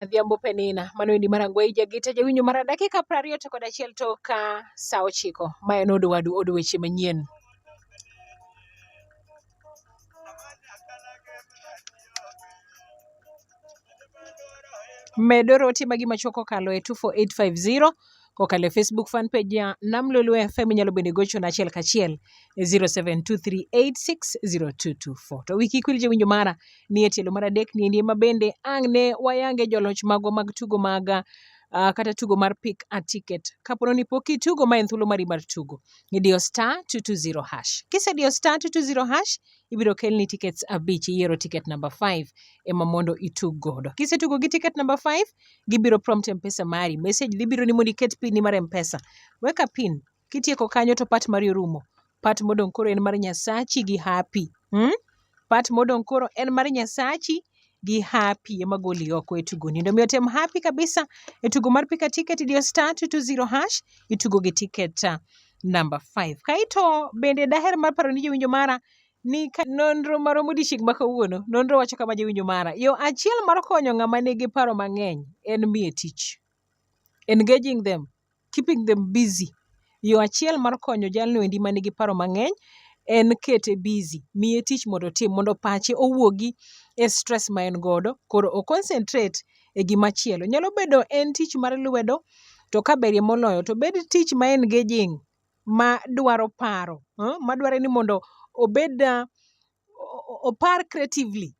Adhiambo Penina, mano endi Marangweyi Jagita jawinjo mara dakika piero ariyo to kod achiel to ka sa ochiko. Ma en od wadu od weche manyien. Medo rote magi machuok kokalo e 24850 kokalo e Facebook fan page ya Nam Lolwe FM. Inyalo bende gochona achiel kachiel e 0723860224. To wiki kwil jowinjo mara ni e tielo mar adek ni endi ma bende ang' ne wayange joloch magwa mag tugo maga Uh, kata tugo mar pick a ticket kapono ni pok itugo ma en thuolo mari mar tugo idiyo star 220 hash kisediyo star 220 hash ibiro kelni tickets abich iyiero ticket number five ema mondo itug godo. Kisetugo gi ticket number five, gibiro prompt mpesa mari. Message dhi biro ni mondo iket pin ni mar mpesa. Weka pin, kitieko kanyo to part mari orumo. Part modong' koro en mar Nyasachi gi happy. Hmm? Part modong' koro en mar Nyasachi gi happy ema goli oko e tugoni. Mondo mi otem happy kabisa e tugo mar pika ticket idiyo star 220 hash itugo gi ticket ah, number 5. Kaito bende daher mar paro ni jowinjo mara ni ka nonro maro modiechieng' ma kawuono nonro wacho kama jowinjo mara yo achiel mar konyo ng'ama nigi paro mang'eny en miye tich engaging them keeping them busy. Yo achiel mar konyo jalno endi ma nigi paro mang'eny en kete busy, miye tich mondo otim mondo pache owuogi e stress ma en godo koro o concentrate e gima chielo. Nyalo bedo en tich mar lwedo to ka berie moloyo to obed tich ma engaging ma dwaro paro, ma dwaro ni mondo obed opar creatively.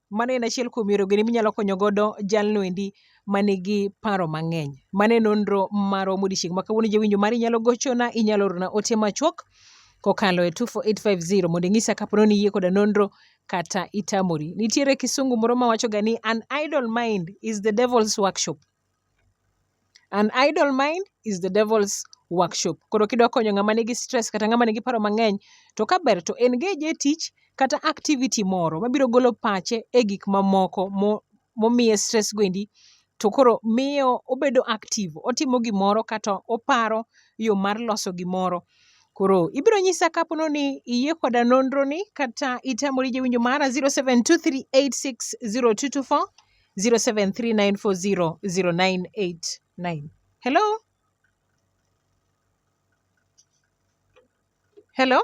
Mano en achiel kuom yore gini minyalo konyo godo jalno endi manigi paro mang'eny. Mano e nonro marwa modiochieng' ma kawuono jawinjo mari inyalo gochona, inyalo orona ote machuok kokalo e 24850 mondo inyisa kapo ni iyie koda nonro kata itamori. Nitiere kisungu moro mawachoga ni an idle mind is the devil's workshop. An idle mind is the devil's workshop. Koro kidwa konyo ng'ama nigi stress kata ng'ama nigi paro mang'eny to ka ber to engage e tich kata activity moro mabiro golo pache e gik mamoko mo momiye stress go endi to koro miyo obedo active otimo gimoro kato oparo yoo mar loso gimoro. Koro ibro nyisa kapo ni iyie koda nonro ni kata itamori jawinjo mara zero seven two three eight six zero two two four 0739400989. Hello? Hello?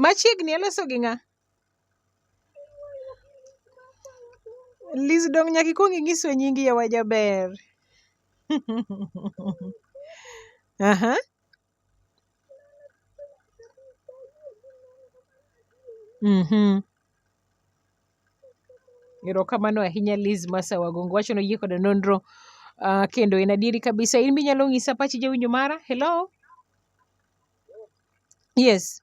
Machiegni aloso gi ng'a? Liz dong nyaka ikwong inyiswa nyingi yawa jaber. Aha. Mhm. Erokamano ahinya Liz Masawa Gongo wacho noyie koda nonro uh, kendo en adieri kabisa. In be inyalo ng'isa pachi jawinjo mara? Hello? Yes.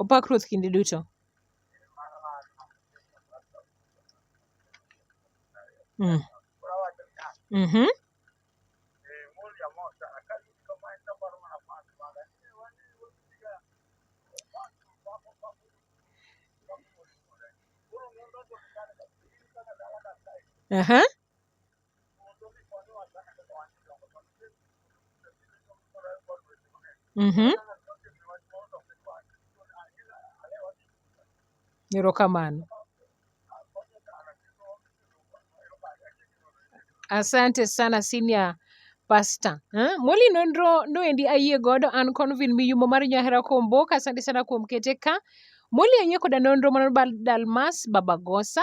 Opak Ruoth kinde duto. Mm. Mm-hmm. Uh-huh. Mhm. Erokamano. Asante sana senior pastor. Eh? Moli nonro noendi ayie godo an Convin Miyumo mar Nyahera Komboka. Asante sana kuom kete ka. Moli ayie koda nonro mano bal Dalmas Babagosa.